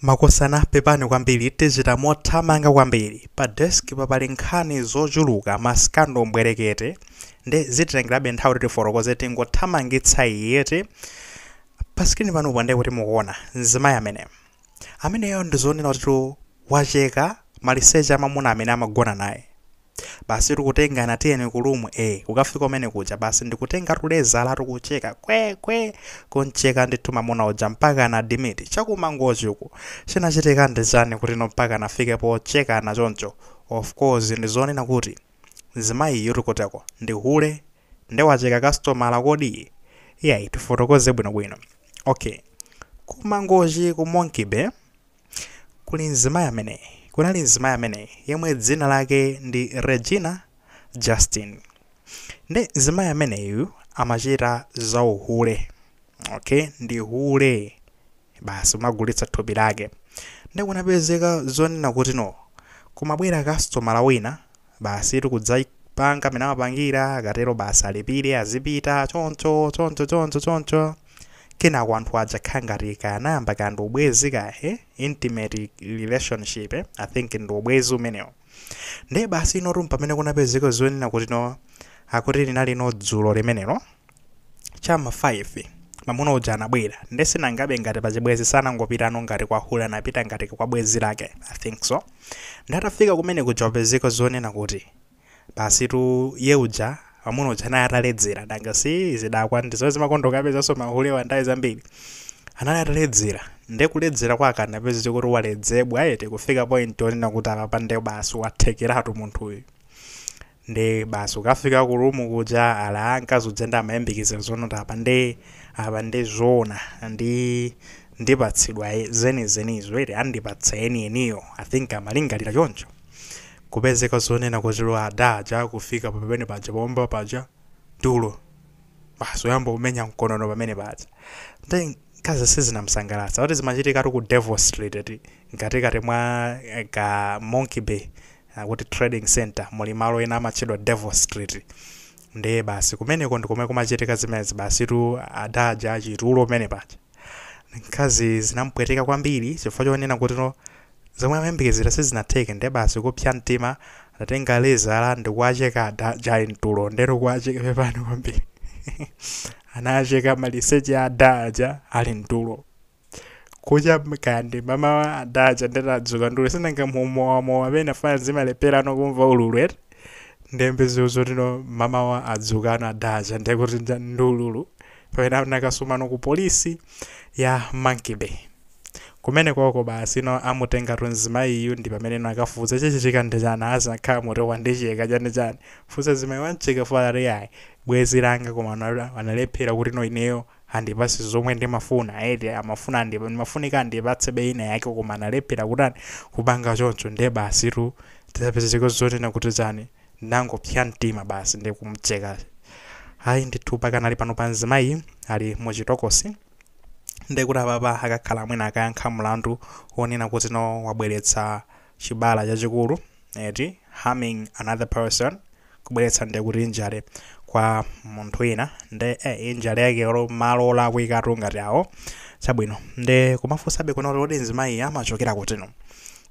makosana pepani kwambiri tichita mothamanga kwambiri pa desk papali nkhani zochuluka masikando mbwerekete nde zititengerabe nthawi kuti tifotokoze tingothamangitsa eti pa skrini panopo ndiye kuti mukuona mzimayi amene ameneyo ndizonena kuti wacheka maliseche amamuna amene amagona naye basi ndikutengana tiyeni ku room a kukafika kumene kuja basi ndikutenga tulezala ndikucheka kwekwe kuncheka ndithu mamuna uja mpakana admit chakumangochi uku chinachitika ndi chani kuti no mpakana afike pochekana choncho of course ndizonena kuti mzimayi uyutu akuteko ndi hule nde wacheka kasitomala kodi iyayi tifotokoze bwinobwino okay kumangochi ku monkey bay Kuli mzimayi amene, kunali mzimayi amene yemwe dzina lake ndi Regina Justin. Nde mzimayi ameneyu amachita za uhule. Okay, ndi hule. Basi kumagulitsa thupi lake. Nde kunapezeka zonena kuti no, kumabwera kasitomala wina Basitu kudzapanga mmene amapangira, akatero basi alipire azipita, choncho, choncho, choncho, choncho. Kenako anthu aja kukhala ngati kaya anayamba kaya ndi ubwezi kaya, he? Intimate relationship, eh? I think ndi ubwezi umenewo. Ndiye basi inotu mpamene kunapezeka zonena kuti no, akuti linalino dzulo limenelo. chama 5 mamuna uja anabwera nde nangabe ngati pachibwezi sanangopitano ngati kwa hule anapita ngati kwa bwezi lake i think so nde atafika kumene kuja kupezeka zonena kuti basi tu ye uja mamuna uja naye ataledzera nanga si zidakwa ndizo zimakonda kapezanso mahulewa nde zambiri anali ataledzera nde kuledzera kwake anapeza chokuti waledzera eti kufika point onena kuti apapa nde basi wathekeratu munthuyu nde basi kukafika ku room kuja ala mkazi uja nde amayembekezera zonoti apa nde apa nde zoona ndi ndipatsidwa e- zenizenizo ere andipatsa enieniyo i think amalingalira choncho kupezeka zonena kuti adaja kufika pamene paja pomba paja tulo basi kuyamba kumenya mkonono pamene paja nde mkazi sizinamsangalatsa kuti zimachitikatu ku devil street ati mkatikati mwa eh, ka monkey bay akuti trading centre muli malo ena amatchedwa devil street ndiye basi kumeneko ndi komwe kumachitika zimenezi basi tu adaja achitulo pamene paja mkazi zinampweteka kwambiri chifukwa chonena kuti no zomwe amayembekezera sizinatheke ndiye basi kupsa mtima adatenga lezala ndikuwacheka adaja ali mtulo nde kuwacheka pepani kwambiri anacheka maliseche adaja ali mtulo kucha kandi mamawa adaja nde atadzuka ndule sinanga mumowamowa pena afana zimalepherano kumva ululu eti ndembe ziuzo tino mamawa adzukano adaja ndekuti nja- ndi ululu pamene anakasumano ku polisi ya monkey bay kumene koko basi no amutengatu mzimayiyu ndi pamene no akafufuza chichitika ndi chani asakhala moto wandicheka chani chani funsa mzimayi wamcheka fala iyayi bwenzi langa koma wana- wanalephera kuti no ineyo andipatse zomwe ndimafuna eti amafuna andip, ndimafunika andipatsebe ina yake koma analephera kutani kupanga choncho nde basitu zapezeka zonena kuti chani ndinangopsya mtima basi ndi kumcheka ayi ndithu pakanali panopa mzimayi ali mu chitokosi ndekuti apapa akakhala mwina akayankha mlandu wonena kuti no wabweretsa chibala chachikulu eti harming another person kubweretsa nde kuti injury kwa munthu wina nde eh, injury yake olo malo olakwikatu ngati awo chabwino nde kumafunsabe kuno kuti kodi mzimayi amachokera kutino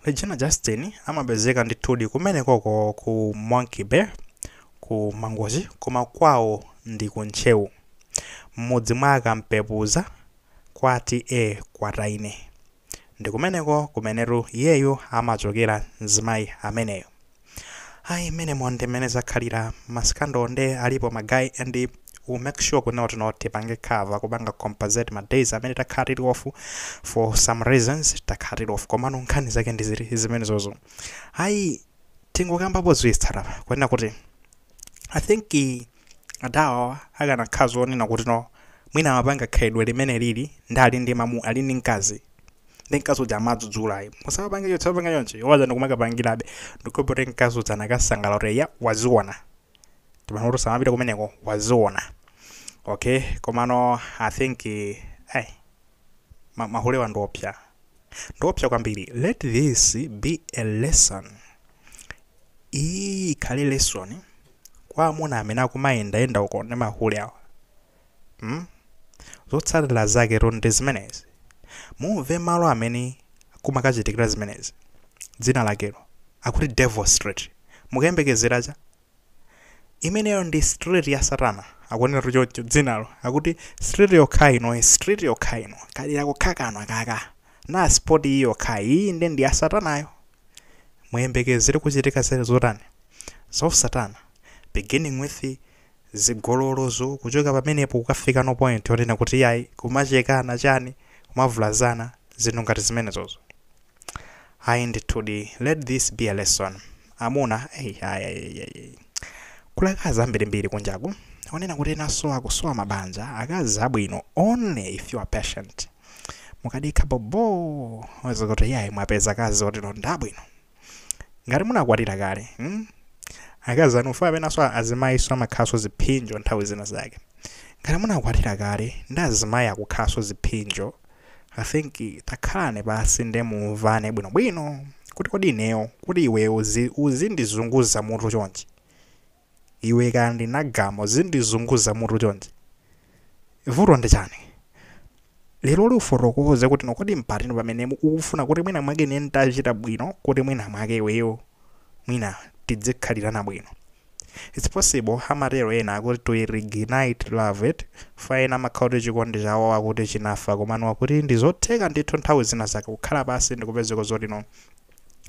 regina justin amapezeka ndithudi kumene koko ku monkey bay ku mangochi koma kwawo ndi ku ntcheu m'mudzi mwa kampepuza kwa t/a kwataine Ndikumeneko kumenetu iyeyo amachokera mzimayi ameneyo. Ayi mmenemo ndi mmene zakhalira ma scandal nde alipo ma guy and we'll make sure kunena kuti no tipange cover kupanga compensate ma days amene takhala tili off for some reasons takhala tili off komano nkhani zake ndi ziti zimenezozo. Ayi tingokambapo ziwiri zitatu apa kunena kuti i think adawa akanakhala zonena kuti no mwina amapanga khalidwe limene lili ndi ali ndi mamu ali ndi mkazi ndi mkazi uja amadzudzula ayi musapange choncho sapanga choncho iwo aja ndikumakapangirabe ndikupote mkazi uja anakasangalala kuti ya waziona timanena kuti samapita kumeneko waziona okay komano i think eh, ai ma- mahulewa ndiopsa Ndiopsa kwambiri let this be a lesson iyi ikhale lesson kwa amuna amene akumayendayenda uko ndi mahule awa hmm? zotsatira zaketu ndi zimenezi mumve malo amene kumakachitikira zimenezi dzina lakelo akuti devil street mukayembekezera cha imeneyo ndi street ya satana akunenatu choncho dzinalo akuti street yokhayi ino street yokhayi ino kadera kokhakano aka kapena spot iyi yokhayi iyi nde ndi ya satanayo muyembekezere kuchitika zere zotani za satana beginning with zigololozo kuchoka pamenepo kukafikano point yonena kuti yayi kumachekana chani kumavulazana zinthu ngati zimenezozo Ayi ndithudi let this be a lesson amuna eyi ayi ayi ayi ayi kuli akazi ambirimbiri kunjaku onena kuti enaso akusowa mabanja akazi abwino only if you are patient mukadikha bobo uona kuti yayi mwapeza akazi oti ndi abwino ngati munakwatira kale mm? akazi anuwa penaso azimayiso amakhalanso ziphinjo nthawi zina zake ngati munakwatira kale ndi azimayi akukhalanso ziphinjo I think takhalani pansi nde mumvane bwinobwino kuti kodi ineyo kuti iwe uzi, uzindizunguza mutu chonchi iwe Kandinagama uzindizunguza mutu chonchi vuto ndi chani lero lino ufotokoze kuti no kodi mpati pamene mu- ukufuna kuti mwina mwake ine nditachita bwino kuti mwina mwake iweyo mwina tidzikhalirana bwino It's possible amatero ena akuti to reignite love eti pa ena amakhala kuti chikondi chawo akuti chinafa komano akuti ndizotheka ndithu nthawi zina zake kukhala pasi ndikupezeka zoti no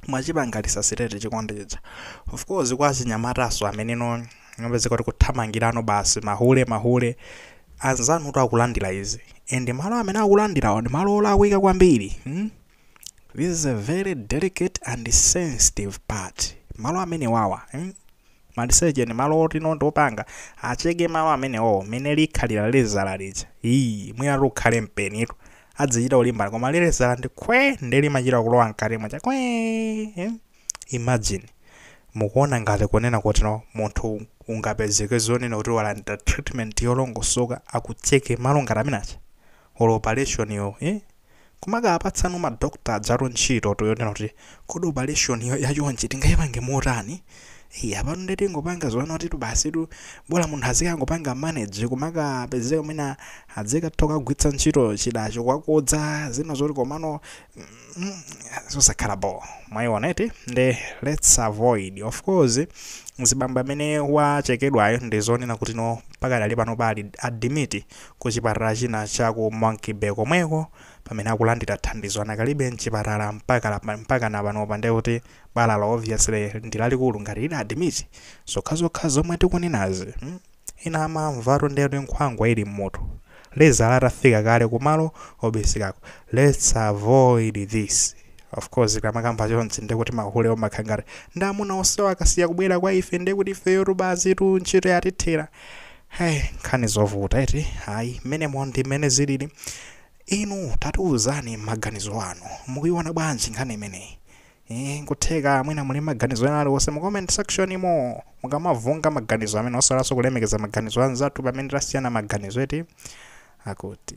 mwachipanga resuscitate chikondi chija of course kwa achinyamataso amene no ngapezeka kuti kuthamangirano basi mahule mahule anzanu kuti akulandira izi and malo amene akulandirawo ndi malo olakwika kwambiri hmm? this is a very delicate and sensitive part malo amenewawa mm? maliseche ni malo oti no ndi opanga acheke malo amenewo mene likhalira lezala lija iyi mwina ukhale mpenitu adzichita kulimbana koma lilezala ndi khwe nde limachita kulowa mkati mwacha khwe eh? imagine mukuona ngati kunena kuti no munthu ungapezeke zonena kuti walandira treatment yolongosoka akucheke malo ngati amene aja or operation yo eh? kumakawapatsano ma doctor ajatu ntchitotu yonena kuti kodi operation yo yachonchi tingaipange motani Hey, apano nde tingopanga zonena kuti basitu bola munthu azikangopanga manage kumakapezeka mwina adzikatha kukagwiritsa ntchito chidacho kukakodza zina zoti komano mm, mm, zosakhala bo mwayiona eti nde let's avoid of course mzibambo amene wachekedwayo ndi zonena kuti no pakadali pano ali admit kuchipatala china cha ku Monkey Bay komweko pamene akulandira thandizo anakalibe mchipatala mpakana panopa nde kuti balalo obviously ndi lalikulu ngati ali admit zokhazokha zomwe tikunenazi mm? ena amamvatu nde kuti nkhwangwa ili mmutu lezala itafika kale kumalo obisikako lets avoid this ofcourse tikamakamba chonchi nde kuti mahulewo amakhala ngati nde amuna onsewo akasiya kubwera kwa ife nde kuti ifeyotu basitu ntchito yatithera Hey, nkhani zovuta eti ayi mmenemo ndi mmene zilili inu tatiuzani maganizo anu mukuiona bwanji nkhani imeneyi Eh, nkutheka mwina muli maganizo ena aliwonse mu comment section imo mukamapereka maganizo amenewo osaiwalaso kulemekeza maganizo anzathu pamene tasiyana maganizo eti akuti